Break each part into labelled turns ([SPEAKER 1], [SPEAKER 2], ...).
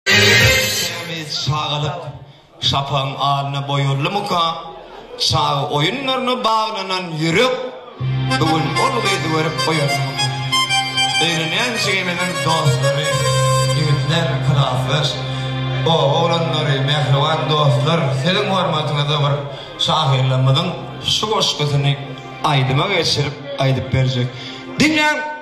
[SPEAKER 1] Temiz çagalyk şapagyň alyna boýarlymyka? Çaga oýunlaryna baglanan ýürek bu gün ol gyzy görüp oýanarmyka? Öýlenýän jigimiziň dostlary, ýigitler, klasdaş, o, oglanlary, mähriban dostlar, siziň hormatyňyza bir şahyrlarymyzyň şu goşgusyny aýdyma geçirip aýdyp berjek. Diňläň!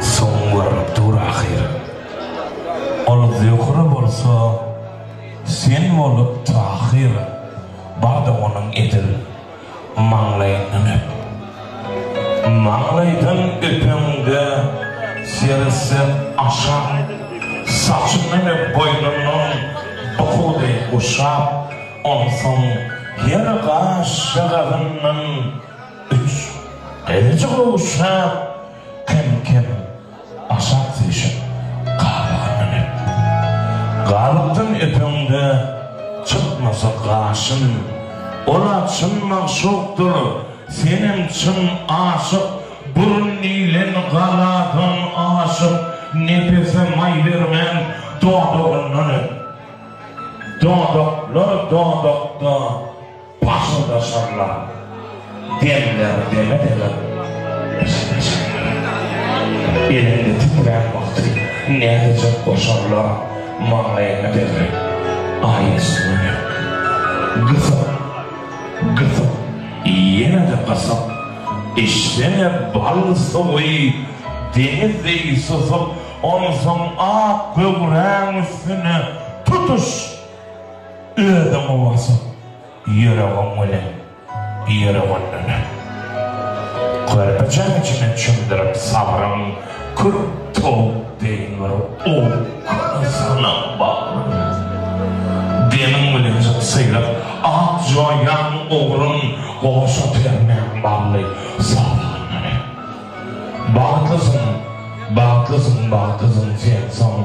[SPEAKER 1] Soňuň görnüp dur ahyr. Ol Zöhre bolsa sen bolup Tahyr. Bardy onuň edil maňlaýyndan öp. Maňlaýdan öpeňde seretse aşa. Saçyndan öp boýnundan bukudy guşap. Onsoň her gaşjagazyndan. Üç, Gylyjy gowşap, kem-kem aşak süýşüp, gabaga münüp. Galykdan öpeňde, çykmasa gaşyn. Ol-a çyn magşukdyr, senem çyn aşyk. Burun diýlen galadan aşyp, nepese maý bermän, dodagyndan öp. Dodaklar dodakda. Başynda şalla demler deme deme Elinde titrän wagty nädejek o şalla maňlaýyňa degre Aý üstüne gysyp gysyp ýene-de gysyp Eşdeme bal suwy deňiz deý susup Onsoň ak göwräň üstüne tutuş Özüň owazyn ýüregiň bilen ýere gönderip, körpejäň içine çümdürip sagryň kür towuk deýin bir owkany synag bagryň demiň bilen jyksylyp at joýan ugrun goşa termäň bally sazanlary. Bagtlysyň, bagtlysyň, bagtlysyň sen soň.